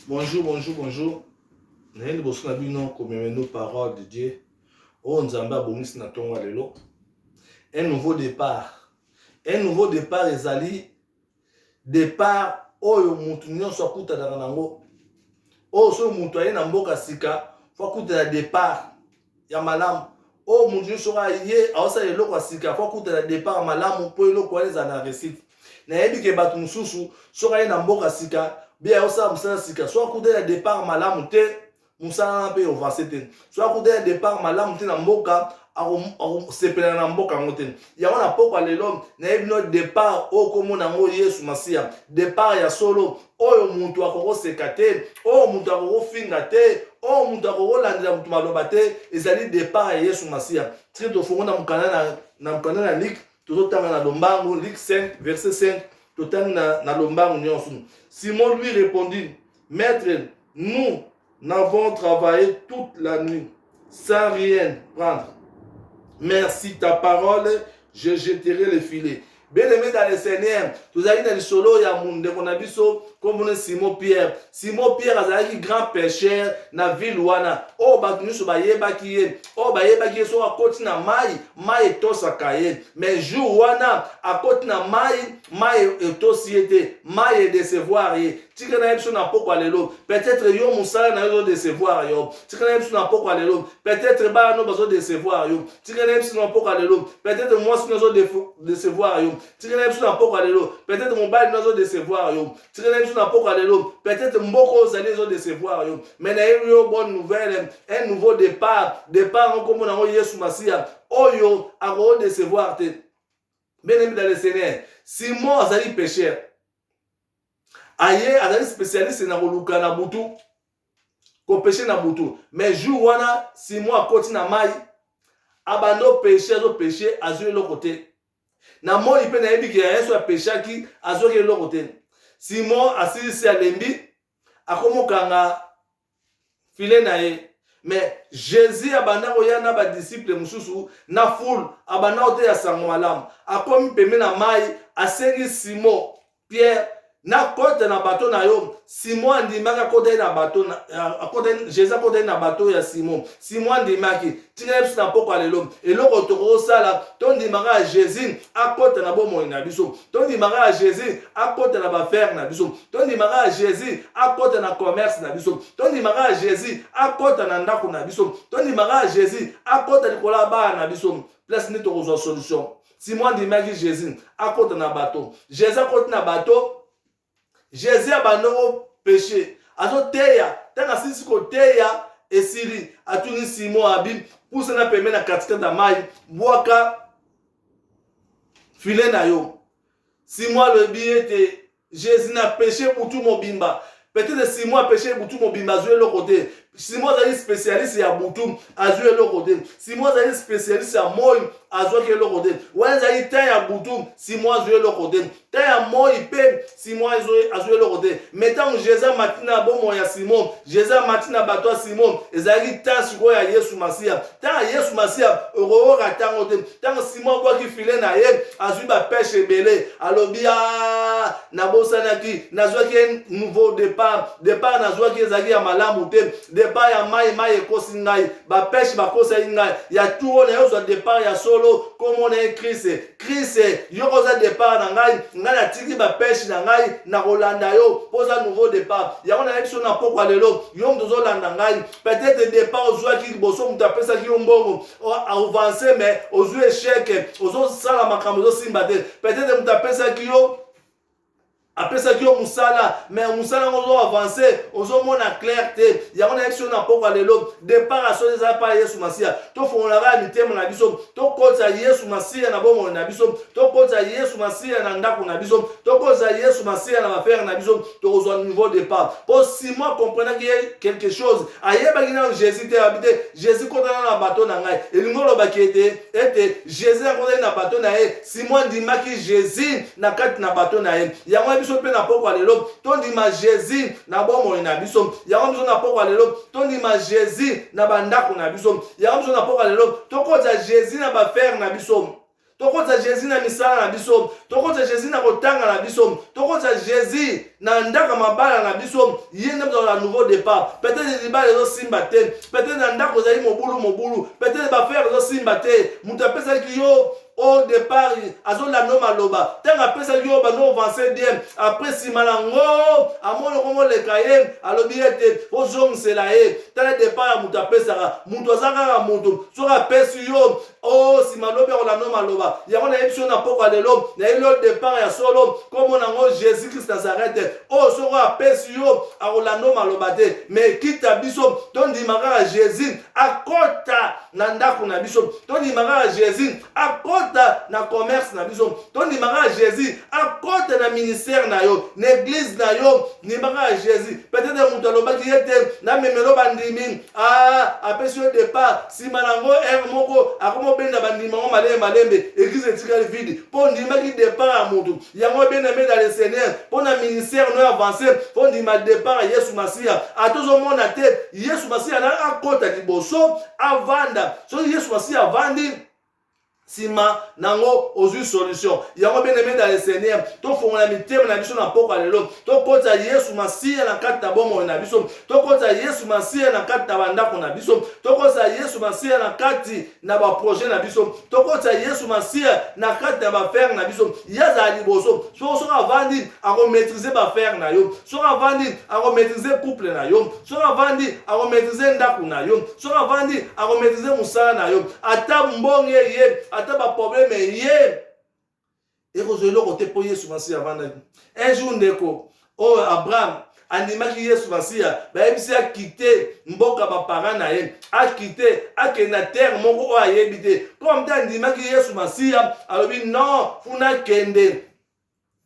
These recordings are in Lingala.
Bonjour, bonjour, bonjour. naye liboso na bino komemenu parole de dieu oyo nzambe abongisi na ntongo ya lelo un nouveau départ un nouveau départ ezali départ oyo moto nyonso akutanaka nango oyo soki moto aye na mboka sika fo akutana départ ya malamu oyo oh, moto nyonso oyo aye aosala eloko ya sika po akutana départ malamu mpo eloko wana ezala na réussite nayebi ke bato mosusu soki aye na mboka sika be aosala mosala sika so akutani na départ malamu te mosala wana mpe ovance te so akutani na départ malamu te na mboka akosepelana na mboka yango te yango na pokwa lelo nayebi bino depart oyo komona yango yesu masiya depart ya solo oyo moto akokoseka te oyo moto akokofinga te oyo moto akokolandela moto maloba te ezali depart ya yesu masiya soki tofongo na mokanda na mokanda na liki tozotanga na lombango liki 5 verset 5 totangi na, na lombango nyonso simon lui répondit maître nous Nous avons travaillé toute la nuit sans rien prendre. Merci ta parole, je jeterai le filet. Bien-aimé dans le Seigneur, tozali na lisolo ya ndeko na biso komona Simon Pierre. Simon Pierre azalaki grand pêcheur na ville wana. Oyo bato nyonso bayebaki ye, oyo bayebaki ye soki akoti na mai, mai etosaka ye. Mais jour wana akoti na mai, mai etosi ye te, mai edecevoir ye. tika na ye biso na pokwa lelo peut-être yo mosala na yo ezodecevoir yo tika na ye biso na pokwa lelo peut-être bana no bazodecevoir yo tika na ye biso na pokwa lelo peut-être mwasi no azodecevoir yo tika na ye biso na pokwa lelo peut-être mobali no azodecevoir yo tika na ye biso na pokwa lelo peut-être mboka oyo ozali ezodecevoir yo mais nayebi yo bonne nouvelle un nouveau départ départ yango nkombo na yango yesu masiya oyo akodecevoir te bien aimé dans le seigneur simon azali pécheur aye azali specialiste na koluka na butu kopeshe na butu mais jour wana simo akoti na mai abanda opeshe azopeshe azwi eloko te na moi mpe nayebi ke ya yesu apeshaki azwaki eloko te simo asilisi alembi akomokanga file na ye mais jésus abanda koya na badisiple mosusu na foule abanda koteya sango malamu akomi pembe na mai asengi simon pierre nakota na bato na yo simon andimaki akotaki na bato jésus akotaki na bato ya simon simo andimaki ntina ye biso na mpokwa lelo eloko tokosala tondima kaka jésus akota na bomoi na biso tondima kaka jésus akota na bafere na biso tondima kaka jésus akota na commerce na biso tondima kaka jésus akota na ndako na biso tondima kaka jésus akota likolo ya bana na biso place nde tokozwa solution simo andimaki jésus akota na bato jésus akoti na bato jesus abanda ngo peche azoteya ntango asilisi koteya esili atuni simon abi pusana pembe na katikati ya mai bwaka file na yo simon alobi ete jesus na peche butu mobimba peut-être simon apeche butu mobimba azwi eloko te simon azali spécialiste ya butu azwi eloko te simon azali spécialiste ya moi azwaki eloko te wana ezali temps ya butu simon azwi eloko te temps ya moi mpe simon azwi eloko te mai ntango jesus amati na bomoi ya simon jesus amati na bato ya simon ezalaki ntango sikoyo ya yesu masiya ntango ya yesu masiya okoyoka ntango te ntango simon abwaki file na ye azwi bapeshe ebele alobi a ah, nabosanaki nazwaki nouveau départ départ nazwaki ezalaki ya malamu te départ ya mai mai ekosi ngai bapeshe bakosaki ngai ya turo na ye ozwa départ ya solo komona ye kriste Chris, yo oza départ na ngai, ngai natiki ba pêche na ngai na kolanda yo mpo oza nouveau départ. Yango nayebi biso na pokwa lelo, yo moto ozolanda ngai. Peut-être départ ozuaki liboso moto apesaki yo mbongo, avance mais ozwi échec, ozosala makambo ezosimba te. Peut-être moto apesaki yo apesaki yo mosala me mosala yango ozo avance ozomona claire te yango nayebisi yo na mpokwa lelo depart ya soni ezala mpa yesu masiya tofongolaka ya mitema na biso tokotisa yesu masiya na bomoi na biso tokotisa yesu masiya na ndako na biso tokotisa yesu masiya na bafere na biso tokozwa nouveau départ mpo simon akomprenaki ye quelque chose ayebaki nano jésus te abi te jésus kotana na bato na ngai elingi olobaki ete ete jésus akotaki na bato na ye Simon andimaki Jesus na kati na bato na ye. Yango ya biso mpe na pokwa lelo, tondima Jesus na bomoi na biso. Yango biso na pokwa lelo, tondima Jesus na bandako na biso. Yango biso na pokwa lelo, tokoza Jesus na bafere na biso tokoza jesus na misala na biso tokoza jesus na kotanga na biso tokoza jesus na ndako mabala na biso ye nde mozala na nouveau départ peut-être libala ezosimba te peut-être na ndako ezali mobulu mobulu peut-être bafere ezosimba te moto apesaki yo au départ azolanda yo maloba ntango apesaki yo bando ovance bien apres nsima na ngo amoni okomi oleka ye alobi ete ozongisela ye tala départ ya moto apesaka moto aza kaka moto soki apesi yo o nsima lobi akolanda yo maloba yango nayebisi yo na pokwa lelo nayeli yo départ ya solo nkombo na yango jésus christ nazarete oyo soki apesi yo akolanda yo maloba te mais kita biso tondima kaka jésus akota na ndako na biso tondima kaka jésus akota na commerce na biso tondima kaka jésus akota na ministère na yo na église na yo ndima kaka jésus peut-être moto alobaki ye te namemelo bandimi ah, apesi yo départ nsima na yango r moko akomobenda bandimi yango malembe malembe église etikali vide mpo ondimaki départ ya moto yango bien aimé dans le seigneur mpo na ministère no avance ondima départ ya yesu masiya ata ozomona te yesu masiya na akota liboso avanda soki yesu masiya avandi nsima nango ozwi solution yango bien aimé dans le seigneur tofongola mitema na biso na mpokwa lelo tokotisa yesu masiya na kati na bomoi na biso tokotisa yesu masiya na kati na bandako na biso tokotisa yesu masiya na kati na baprojet na biso tokotisa yesu masiya na kati ya bafere na biso ye azala liboso soko soki avandi akomaitrise bafere na yo soki avandi akomaitrise couple na yo soki avandi akomaitrise ndako na yo soki avandi akomaitrise mosala na yo ata mbonge ye ata baprobleme ye ekozwa eloko te mpo yesu masiya avandaki un jour ndeko oyo oh, abraham andimaki yesu masiya bayebisi akite mboka baparent na ye akite akende na terre moko oyo ayebi te mpo amte andimaki yesu masiya alobi non kuna kende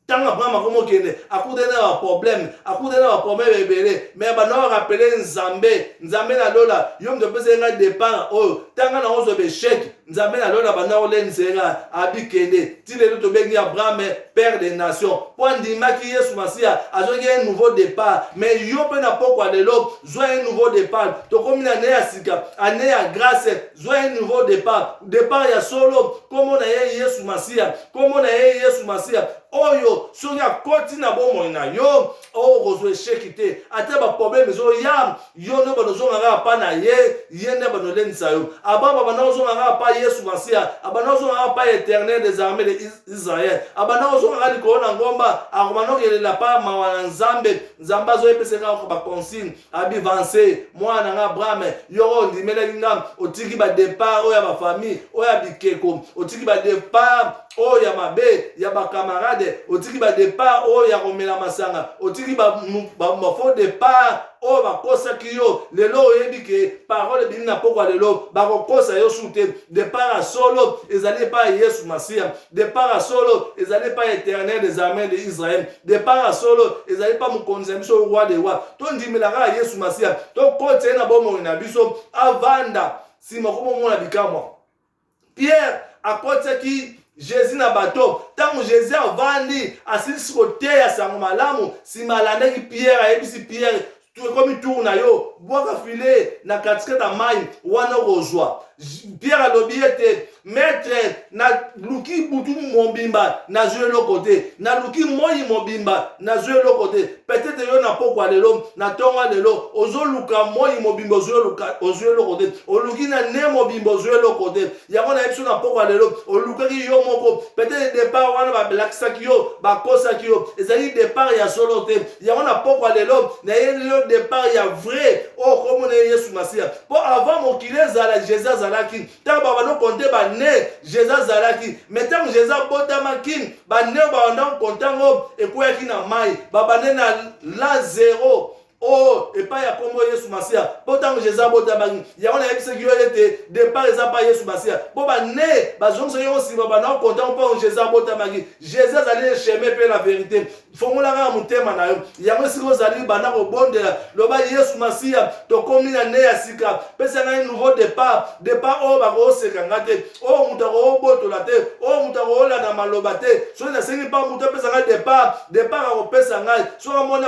ntango abraham akomokende akutani na baproblème akutani na baproblème ebele me banda orapele nzambe nzambe na lola yo moto opesaki ngai depart oyo ntanga na ozwa besheke nzambe na lola banda olen sera abi kende ti lelo tobengi abraham père des nations mpo andimaki yesu masiya azwaki un nouveau départ mais yo mpe na pokwa lelo zwa un nouveau départ tokomi na ne ya sika ane ya grâce zwa un nouveau départ départ ya solo nkombo na ye yesu masiya nkombo na ye yesu masiya oyo soki akoti na bomoi na yo oh, okozwa esheki te ata baproblème ezoya yo nde banozonga kaka pa na ye ye nde banolendisa yo ababa banda kozonga kaka pa yesu masiya abanda kozonga kaka pa éternel des armées de israel abanda kozonga kaka likolo na ngomba akobanda kokelela pa mawa na nzambe nzambe azoyebisa kaka baconsigne abivanse mwana na nga abrahame yoko ondimelaki nga otiki badepart oyo ya bafamille oyo ya bikeko otiki badepart oyo ya mabe ya bacamarade otiki badepart oyo ya komela masanga otiki bafaux depart oyo bakosaki yo lelo oyebi ke parole ebimi na pokwa lelo bakokosa yo su te depart ya solo ezali epai ya yesu masiya depart ya solo ezali epai ya éternel des armées de israel depart ya solo ezali epai mokonzi na biso roi de roi tondimela kaka yesu masiya tokotisa ye na bomoi na biso avanda nsima komomona bikamwa Pierre akotisaki Jésus na bato. Ntango Jésus avandi, asilisi koteya sango malamu, nsima alandaki Pierre, ayebisi Pierre, ekomi tour na yo, bwaka file na katikati ya mai, wana okozwa. Pierre alobi ete metre, naluki butu mobimba, nazwi eloko te, naluki moi mobimba, nazwi eloko te. peut-être yo na pokwa lelo na ntongo lelo ozoluka moi mobimba ozwi eloko te oluki na ne mobimba ozwi eloko te yango na biso na pokwa lelo olukaki yo moko peut-être départ wana balakisaki yo bakosaki yo ezali départ ya solo te yango na pokwa lelo nayeli yo départ ya vrai oyo komona ye yesu masiya mpo avant mokili ezala jésus azalaki ntango babanda konte bane jesus azalaki me ntango jesus abotamaki bane oyo babanda konte yango ekweyaki na mai babande na la zero o oh, epai ya nkombo yesu masiya mpo ntango jesus abotamaki yango nayebisaki yo ete depart eza mpa yesu masiya mpo bane bazongisaki yango nsima banda konte yango mpo jesus abotamaki jesus azali echeme mpe na verite fongola kaka motema na yo yango esika ozali banda kobondela loba yesu masiya tokomi na nde ya sika pesa ngai nouveau départ départ oyo bakooseka nga te oyo moto akoobotola te oyo moto akoolanda maloba te soki nasengi mpa moto apesa ngai départ départ akopesa ngai soki amoni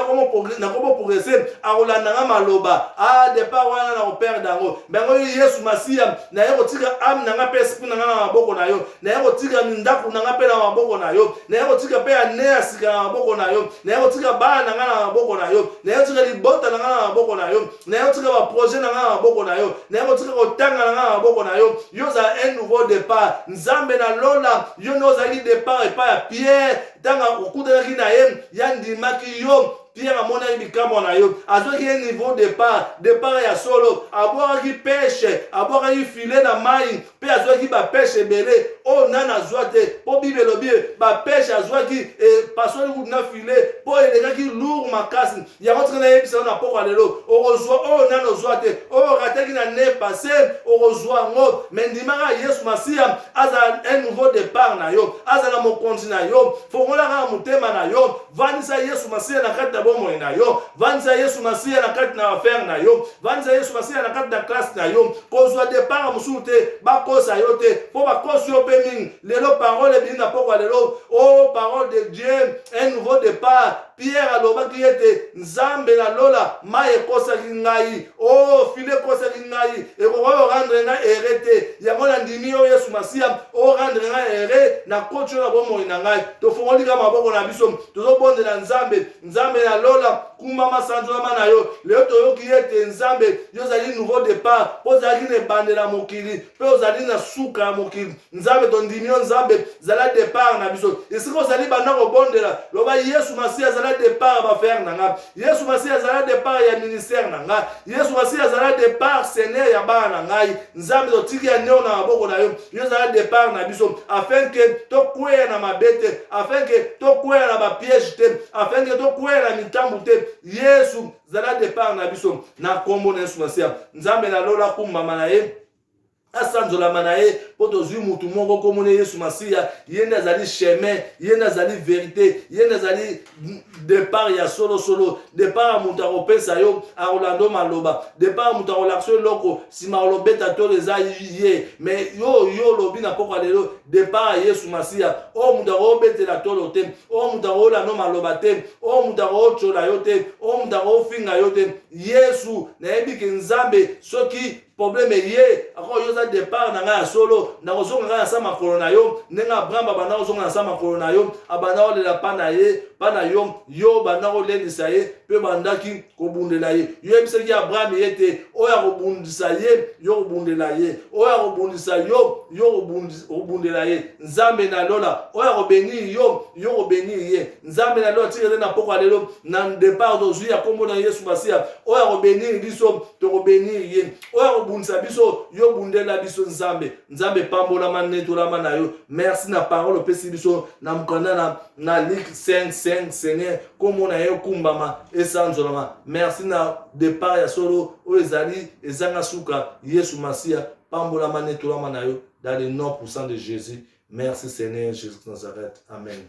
nakomoprogrese akolanda nga maloba a ah, départ wana nakoperde yango me yango yesu masiya naye kotika ame na ngai mpe esprit na ngai na maboko na yo naye kotika ndako na ngai mpe na maboko na yo naye kotika mpe ane ya sika na maboko na yo naye kotika bana na ngai na maboko na yo naye kotika libota na ngai na maboko na yo naye kotika baprojet na ngai na maboko na yo naye kotika kotanga na ngai na maboko na yo yo ozala un nouveau départ nzambe na lola yo nde ozalaki départ epai ya pierre ntango okutanaki na ye ye andimaki yo Pierre amonaki bikamwa na yo, azwaki ye niveau départ, départ ya solo, abwakaki peshe, abwakaki file na mai mpe azwaki bapeshe ebele oyo oh, nani azwa te, mpo Bible elobi bapeshe azwaki epasoli eh, kutu na file mpo elekaki lourd makasi. Yango tika nayebisa yo na mpokwa lelo, okozwa oyo oh, nani ozwa te, oyo oh, okataki na ne passe, okozwa yango. Me ndimaka Yesu Masiya azala un nouveau départ na yo, azala mokonzi na yo, fongolaka motema na yo vandisa yesu masiya na kati na bomoi na yo vandisa yesu masiya na kati na affaire na yo vandisa yesu masiya na kati na classe na yo kozwa depart mosusu te bakosa yo te mpo bakosi yo mpe mingi lelo parole ebimi na pokwa lelo o oh, parole de dieu un nouveau départ pierre alobaki ete nzambe na lola mai ekosaki ngai Oh, file ekosaki ngai ekokoki orendre ngai ere te yango nandimi yo yesu masiya orendre ngai ere nakoti yo na bomoi na ngai tofongoli kaka maboko na biso tozobondela nzambe nzambe ya lola kuma masanzolama na yo lelo toyoki ye ete nzambe yo ozali nouveau départ mpo ozalaki na ebandela mokili mpe ozali na suka ya mokili nzambe tondimi yo nzambe zala départ na biso esika ozali banda kobondela loba yesu masiya zala départ ya bafere na ngai yesu masiya azala depart ya ministère na ngai yesu masiya azala depart seigneur ya bana na ngai nzambe totiki ya neo na maboko na yo yo ezala depart na biso afin ke tokweya na mabe te afin ke tokweya na bapiège te afin ke tokweya na mitambu te yesu zala depart na biso na nkombo na yesu masiya nzambe na lola kumbama na ye asanzolama na ye mpo tozwi motu moko nkombo na yesu masiya ye nde azali chemin ye nde azali verite ye nde azali depart ya solosolo depart ya moto akopesa yo akolanda yo maloba depart ya moto akolakisa yo eloko nsima olobeta tolo eza ye me yo yo olobi na mpokwa lelo depart ya yesu masiya oyo moto akobetela tolo te oyo moto akolanda yo maloba te oyo moto akotyola yo te oyo moto akofinga yo te yesu nayebi ke nzambe soki problème eye ako yo za départ na ngai ya solo nakozonga ngai na sa makolo na yo ndenge abraham abanda kozonga na sa makolo na yo abanda kolela mpa na ye mpa na yo yo obanda kolendisa ye mpe obandaki kobundela ye yo yebisaki abraham ye te oyo akobundisa ye yo kobundela ye oyo akobundisa yo yo kobundela ye nzambe na lola oyo akobeni yo yo kobeni ye nzambe na lelo atikela nde na poko ya lelo na depart tozwi ya nkombo na yesu masiya oyo akobenir biso tokobenir ye oyo akobundisa biso yo bundela biso nzambe nzambe epambolama netolama na yo merci na parole opesi biso na mokanda na, na lik 55 seigneur nkombo na ye okumbama esanzolama merci na depart ya solo oyo ezali ezanga suka yesu masiya pambolama netolama na yo dans le nom puissant de jésus Merci Seigneur Jesus Nazareth. Amen.